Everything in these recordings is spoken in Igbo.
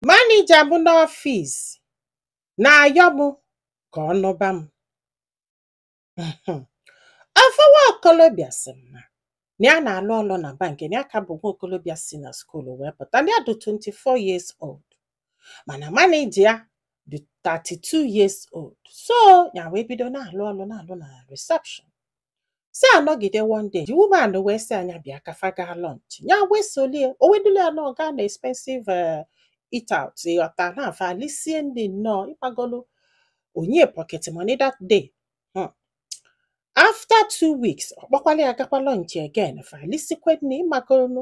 Manager m n'ọfịs na-ayọ m ka ọ nụba m. Ofu nwa okolobịa sị m na na ya na-alụ ọlụ na bank, na ya ka bụ nwa okolobịa si na school wee pụta, na ya dị 24 years old, mana manager ya dị 32 years old. So, ya wee bido na-alụ ọlụ na-alụ na reception. fa anọgide one day the woman wee sị ya ya bịa ka fa gaa lunch ya wee solu ya o wee dulu ya nnọọ gaa na expensive eh, eat out ịghọta na fa elisie nni nnọọ ịmagolu o nye ya pocket money that day Hmm. after two weeks ọ kpọkwala ya gakwa lunch again fa elisikwe nni ịmagolu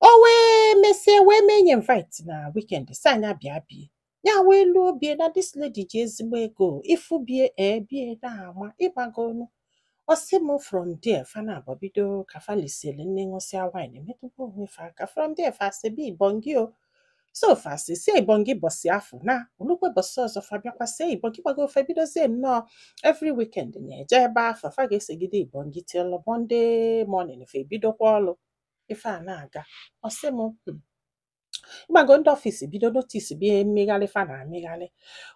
o wee mesie wee mee ya invite na weekend sị ya ya bịa be ya ya wee luo be ya na this lady ji ezigbo ego ịfụ be ya ee be ya na-ama ịmago nu ọ sị m from there fa naabọ bido ka fa lisili nni ṅụsịa wine emetụkwa onwe fa aka from there fa esibe ibongi o so fa esisie ibongi bọsị afụ na olukwe bọsị ọzọ fa bịakwa sie ibongi ịmago fa ebidozie nnọọ every weekend na-eje ebe afụ fa ga-esigide ibongi till Monday morning fa ebidokwa ọlụ ife a na-aga ọ sị m "Hmm, ịmago ndị ọfịs bido notice be mmegharị fa na-emegharị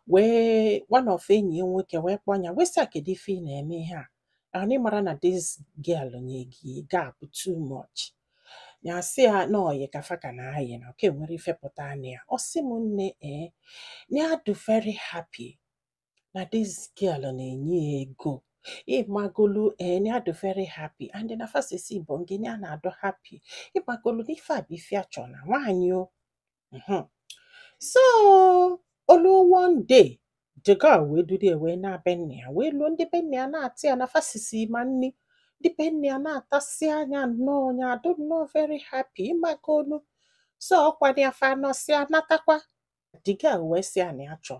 wee one of enyi ya nwoke wee kpọọ ya wee sị "Ah, kedu ife ị na-eme ihe a anyị mara na this girl nye gị gap too much ya sị ya na ọyị ka fa ka na-ayị na oke nwere ife pụta na ya ọ sị m nne ee na ya dị very happy na this girl na-enye ya ego ịmagolu eh, na ya dụ very happy and na fa sisie ibongi na ya na-adụ happy ịmagolu na ife a bụ ife ya chọ na nwaanyị o mhm. so olu one day the girl wee duru ya wee naa be nna ya wee luo ndị be nna ya anata ya na fa sisie ma nni ndị be nna ya anatasịa ya nnọọ ya adụ nnọọ very happy ịmagolu so ọkwa ya fa anọsịa natakwa the girl wee sị ya na ya chọọ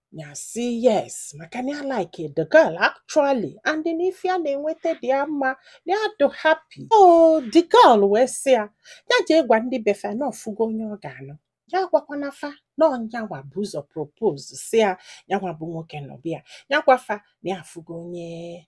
ya sị yes maka na ya like the girl actually and na ife ya na-enweta dị ya mma na ya dị happy oh the girl wee sị ya ya jee gwa ndị be fa na ọ fụgo onye ọ ga-anụ ya gwakwana fa na ọ yanwa bu ụzọ propose si ya yanwa bụ nwoke na ọ bịa ya gwa fa na ya afụgo onye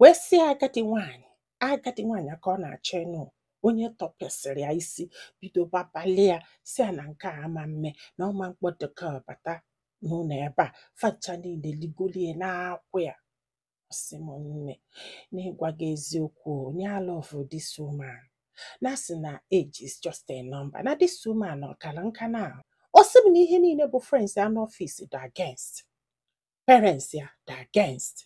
wee sị agadi nwaanyị agadi nwaanyị a ka ọ na-achọ ịnụ onye tọpesịrị ya isi bido babalị ya si ya na nke a ama mme na ọ ma mkpọ the girl bata n'ụlọ ebe a fa ncha niile ligolie na-akwụ ya ọ sị m nne n'ịgwa gị eziokwu na ya love this woman na sị na age is just a number na this woman ọ karọ nka n'ahụ ọ sị m na ihe niile bụ friends ya n'ọfịs dị against parents ya dị against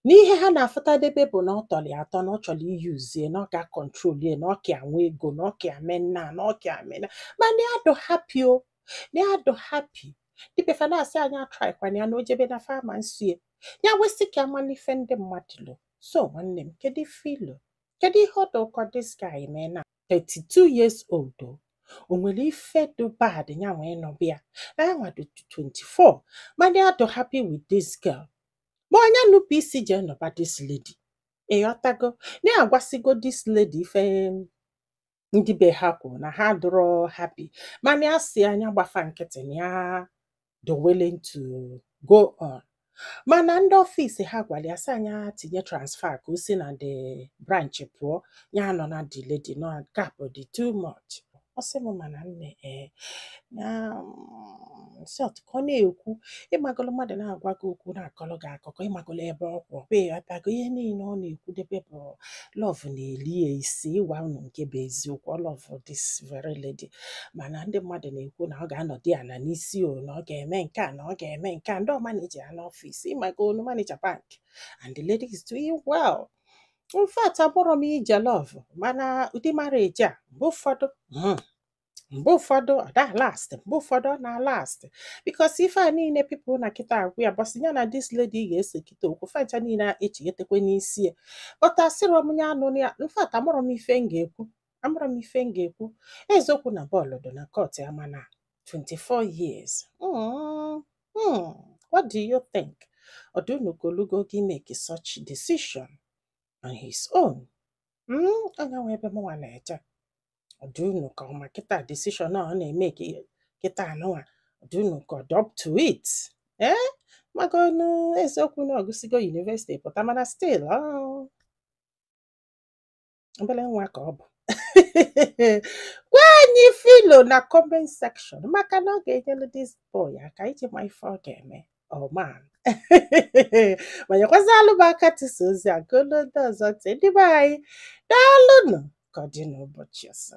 n'ihe ha na-afụtadebe bụ na ọ tọrọ ya atọ na ọ chọrọ i-use ya na ọ ga-acontrol ya na ọ ka ya nwe ego na ọ ka ya eme nnaa na ọ ka ya eme nnaa mana ya dụ happy o na ya dụ happy ndị be fa na-asị ya nya atrykwana ya na o jebe na fa ama nso ya ya wee sị ka ya malụ ife ndị mmadụ lo so nwanne m kedu ife i lo kedu ihe ọ dị gị ka this guy mee na 32 years old o o nwere ife dị bad ya nwa ịnụba ya na ya nwa dị 24 mana ya dị happy with this girl ma ọ nya nupụ isi jee nụba this lady ịghọtago na ya agwasịgo this lady ife ndị be ha kwuru na ha dụrọ happy mana ya sị ya nya gba fa nkịtị na ya dị willing to go on mana ndị ọfịs ha gwara ya sị ya nya tinye transfer ka o si na the branch pụọ ya nọ na the lady nọ gap dị too much ọ sị m mana nne ee na mm, so otu ka ọ na-ekwu ịmagolo mmadụ na-agwa gị okwu na-akọrọ gị akụkọ ịmagolo ebe ọ kwụ ịghọtago ihe niile ọ na-ekwudebe bụ love na-eri ya isi ịgwa unu nke bụ eziokwu ọ love this very lady mana ndị mmadụ na-ekwu na ọ ga-anọdụ ya ala n'isi o na ọ ga-eme nke a na ọ ga-eme nke a ndị ọ ma na-eji ya n'ọfịs ịmago nụ manager bank and the lady is doing well in fact abụrọ m ije love mana ụdị marriage a mgbe ụfọdụ hmm, mgbe ụfọdụ ọ da-alast mgbe ụfọdụ ọ na-alast because ife a niile people nọ kịta agwa ya ụbọsị ya na this lady ga-ese kịta okwu fa ncha niile a echighetekwa n'isi ya but asịrọ m ya anụna ya in fact amarọ m ife m ga-ekwu amarọ m ife m ga-ekwu eziokwu na bọọlụ dị na court ya mana 24 years Mm, mm, what do you think ọ dị unu ka o lugo ogo i-make such decision on his own Mm, ọ nya nwa ebe mụnwa na-eche ọ dị unu ka ọ ma kịta decision a ọ na-emake kịta a nụnwa ọ dị unu ka ọ dị up to it ee maka ọnụ eziokwu na ọ gụsịgo university pụta mana still obere nwa ka ọ bụ gwa anyị ife i lo na comment section maka na ọ ga-enyelu this boy aka iji ma ife ọ ga-eme oh man ma nyekwazịalụ m aka tisa ozi a ka o luo ndị ọzọ ntị ndị be anyị daalụnụ ka ọ dị n'ụbọchị ọzọ